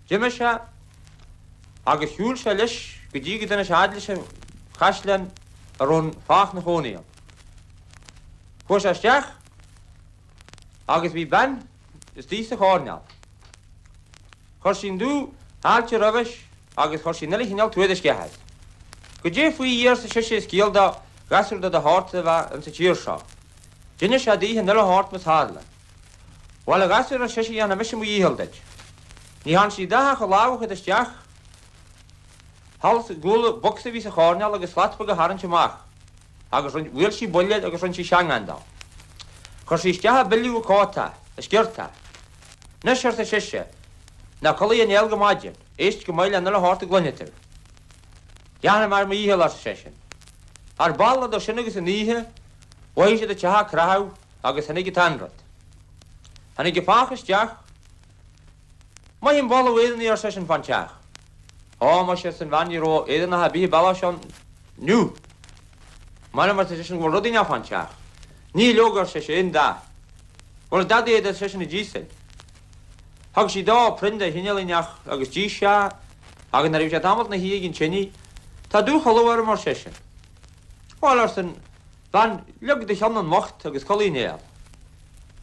D'imigh sé agus shiúil sé leis go dtí go dtáinig sé a fhad leis an chaisleán a raibh an fathach 'na chónaí ann. Chuaigh sé isteach agus bhí bean istigh sa choirneál. Chuir sí an dúfháilte roimhis agus chuir sí an uile chineál tuairisc air. Goidé faoi Dhia arsa sise is ciall do ghasúr de do shórtsa a bheith insa tír seo. D'inis sé daoithe an uile shórt mar a tharla. Bhail, a ghasúir, ar sise, dhéanfaidh mise mo dhícheall duit. Ní thearn sí a dhath ach a lámh a chur isteach thall i gcúl bocsa a bhí sa choirnéal agus slat bheag a tharraingt amach agus rinn, bhuail sí buille agus rinn sí seangán dó. Chuir sí isteach i bpilleadh a cóta, a sciorta. Anois, arsa sise, ná codlaigh aon néal go maidin, éist go maith le an uile shórt a gcluinfidh tú. Déanfaidh mé mo dhícheall, arsa seisean. Ar ball, idir sin agus an oíche, mhothaigh siad an teach ag creathadh, Agus tháinig an t-anrud. Tháinig an fathach isteach. Mothaím boladh Éireannaigh, ar seisean, fán teach. Ó, maise, arsa an bhean, ní raibh Éireannach ar bith an bealach seo inniu. M'anam, arsa seisean, go bhfuil rud inteacht fán teach. Níl, leoga, ar sise, aon dath. Bhfuil dadaí réidh, ar seisean, a d'íosfainn. Thug sí dó proinn de chineál inteacht agus d'ith sé é, agus nuair a bhí sé tamalt ina shuí ag an tinidh, Tá dúchodladh orm, ar seisean. Bhuel, arsa an. bhean, leag do cheann i m'ucht agus codlaigh néal.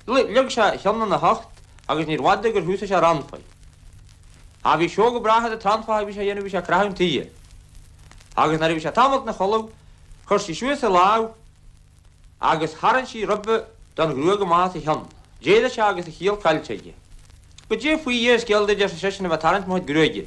Leag sé a cheann ina hucht agus níorbh fhada gur thúsaigh sé a srannfaigh. Ach bhí sióga breátha de tsrannfaigh a bhí sé a dhéanamh a bhí sé ag creathadh an tighe. Agus nuair a bhí sé tamalt ina chodladh chuir sí suas a lámh agus tharraingt sí ribe den ghruaig amach as a cheann. D'éirigh sé agus a chiall caillte aige. Goidé faoi Dhia is ciall duit arsa seisean a bheith ag tarraingt mo chuid gruaige.